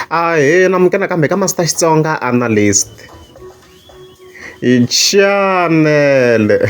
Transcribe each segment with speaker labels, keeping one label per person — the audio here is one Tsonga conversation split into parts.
Speaker 1: Ahee na munghana kambe ka Master Xitsonga Analyst chanele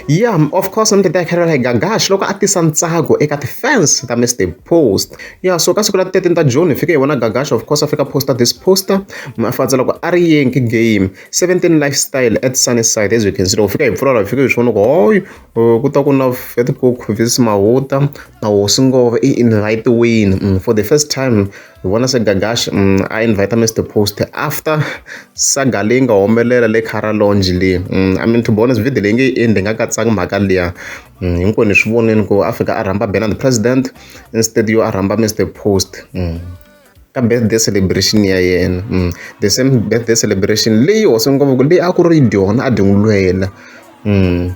Speaker 1: ya of course ni titwa hi kha ni ri Gagash loko a tisa ntsako eka ti-fans ta Mister Post ya so ka siku ra thirteen ta June hi fike hi vona Gagash of course a fika post this poster a fandza loko a ri Yankee game seventeen lifestyle at Sunnyside as you can see loko hi fika hi pfula la hi fike hi swi vona ku hoyu. Ku ta ku na vhete ku Mfundhisi Mawuta na Hosi Ngove i invite-wini for the first time hi vona se Gagash a invite-a Mister Post after saga leyi nga humelela le Cara Lodge le I mean to be honest video leyi nge yi endli hi nga katsanga mhaka liya hinkwenu hi swi vonile ku a fika a rhamba Benard President instead yo a rhamba Mister Post. ka birthday celebration ya yena mm. the same birthday celebration leyi hosi ngopfu leyi a ku ri dyona a dyingulwela mm.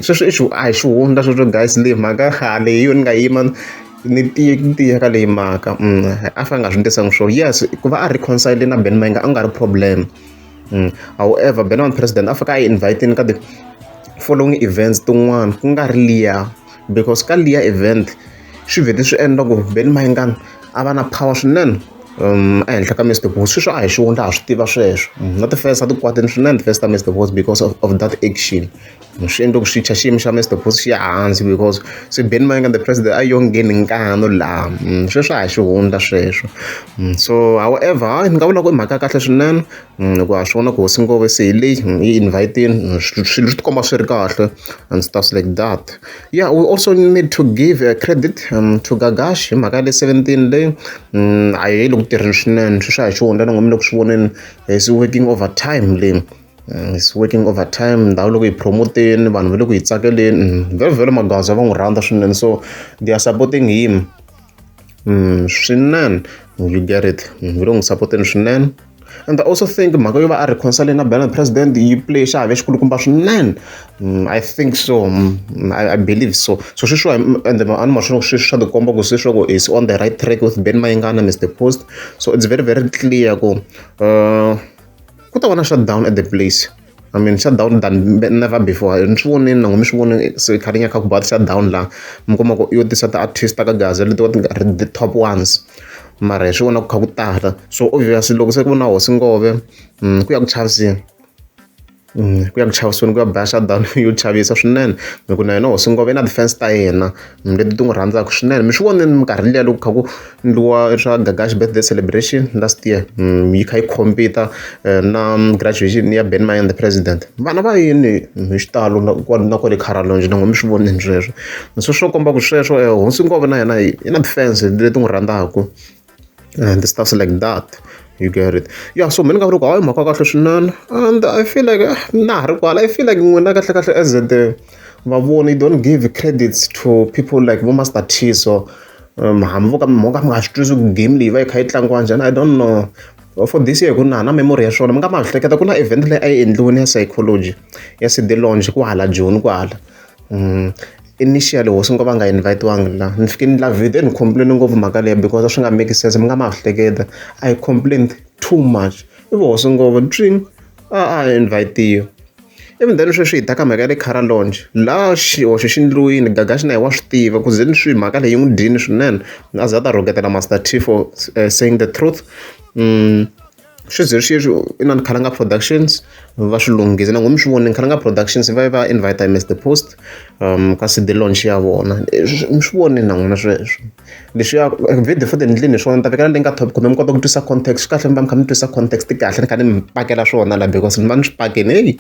Speaker 1: sweswi i a hi xihundla sweswo guys leyi mhaka khale hi yona ni nga yima ni tiye ni tiye ka leyi mhaka mm. a fa nga swi ndisanga swo yes ku va a reconcile na ben mainga a nga ri problem mm. however ben on president a fika a yi inviteni ka the following events tin'wana ku nga ri liya because ka liya event swi vhete swi endla ku Benny Mayengani a va na power swinene um ehenhla ka Mr Boss sweswo a hi xivoni laha swi tiva sweswo mm, na ti-fans a ti kwatini swinene ti-fans ta Mr Boss because of, of that action mm, swi endle ku swi tsha xiyimo xa Mr Boss xi ya hansi because se Ben Mayanga the president a yo ngheni nkano laha mm, sweswo a hi xihundla sweswo so however hayi ni nga vula ku i mhaka ya kahle swinene hikuva ha swi vona ku hosi Ngome se hi leyi hi yi invite-ini swilo swi ti komba swi ri kahle and stuff like that ya we also need to give a credit to Gagash hi mhaka ya le seventeen leyi a yi le ku tirheni swinene swi swa hi xi hundza ni ngo mi le ku swi voneni is working over time leyi is working over time ndhawu loko yi promote-ni vanhu va le ku yi tsakeleni vhele Magwaza va n'wi rhandza swinene so they are supporting him swinene you get it va le ku n'wi sapoteni swinene. and I also think mhaka yo va a reconcile na Bernard president yi play xiave xikulukumba swinene mm, i think so mm, mm, I, i believe so so sweswiwa and a ni maswona sweswi swa tikomba ku sweswaku is on the right track with ben mayingana mr post so it's very very clear ku uh, ku ta va na shutdown at the place I mean sha down than never before ni swi vonile nango mi swi vone se kha ri nyaka ku ba sha down la mi kuma ku yo tisa ti-artist ka gaza leti va ti nga ri the top ones mara hi swi vona ku kha ku tala so obviously loko se ku na hosi ngove mm, ku ya ku chaviseni mm, ku ya ku chaviseni ku ya ba sha down yo chavisa swinene hi ku na yena hosi ngove i na ti-fans ta yena leti ti n'wi rhandzaka swinene mi swi vonile minkarhi liya loko kha ku ndliwa swa gagash birthday celebration last year mm, yi kha yi compete eh, na graduation ya ben mayan the president vana va yini hi xitalo na kwale caralonge na ngo mi swi vonile sweswo se swo komba ku sweswo eh, hosi ngova na yena yi na defense leti n'wi rhandzaka and stuff like that you get it ya so mina ni nga vula ku hayi mhaka kahle swinene and i feel like eh, na ha ri kwala i feel like n'wina kahle kahle as the vavoni you don't give credits to people like vo master t so um, hambi vo ka mhaka mi nga swi twisi ku game leyi va yi kha yi tlangiwa njhani i don't know for this year ku na na memory ya swona mi nga ma hleketa ku na event leyi a yi endliwini ya psychology ya cd lounge ku hala joni ku hala mm. Initially hosi ni ngo va nga invite-wangi la ni fike ni la vhete ni complain-e ngopfu mhaka leyi because a swi nga make sense mi nga ma swi hleketa I complained too much ivi hosi ni ngo twing a a hi invite-iwi ivi then sweswi hi ta ka mhaka ya le Cara lodge la xihoxo xi endliwini Gagash na yehe wa swi tiva ku zeni swi mhaka leyi yi n'wi dyini swinene a za a ta rhuketela Master T for saying the truth . Sweswi hi ri xexo inana Khalanga Productions va swi lunghise na ngo mi swi vonile Khalanga Productions va va invite Mister Post um ka CD launch ya vona mi swi vonile na n'wina sweswo leswiya video futhi ni ndlini hi swona ni ta vekela leyi nga top kumbe mi kota ku twisa context swi kahle mi va mi kha mi twisa context kahle ni kha ni mi pakela swona la because ni va ni swi pakeni heyi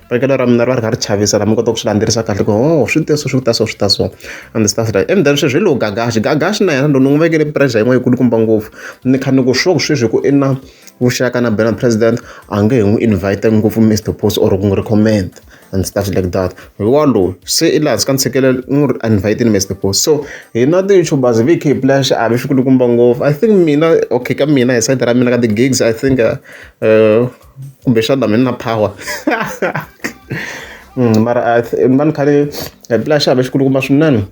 Speaker 1: pakelo ra mina ri va ri kha ri chavisa la mi kota ku swi landzelerisa kahle ku o oh, swi te so swi ta so swi ta so and stuff like and then sweswi hi lowu gagaxi gagaxi na yena lowu ni n'wi vekele pressure yin'wana yi kulukumba ngopfu ni kha ni ku sure ku sweswi ku i na vuxaka na bela president a nge he n'wi invite ngopfu Mister Post or ku n'wi recommend and stuff like that hi walowo se i laha ka ntshikelelo i n'wi invite ni Mister Post so hina ti-youtubers hi khe hi pulaya xiave xi kulukumba ngopfu i think mina okay ka mina hi side ra mina ka ti-gigs i think uh, uh, kumbexana mina na power mm, mara ni va ni kha ni hi pulaya xiave xi kulukumba swinene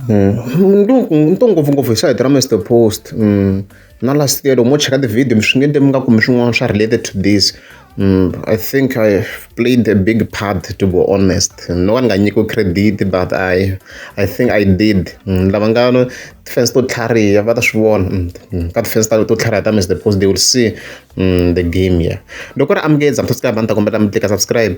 Speaker 1: ni to ni to ngopfungopfu hi sayiti ra Mister Post na last year loko mo cheka ti-video mi swi nge endli mi nga kumi swin'wana swa related to this I think I played a big part to be honest no ka ni nga nyikiwi credit but I I think I did lava nga na ti-fans to tlhariha va ta swi vona ka ti-fans ta to tlhariha ta Mister Post they will see the game here loko ku ri amukela ni ta kombela mi tlika subscribe.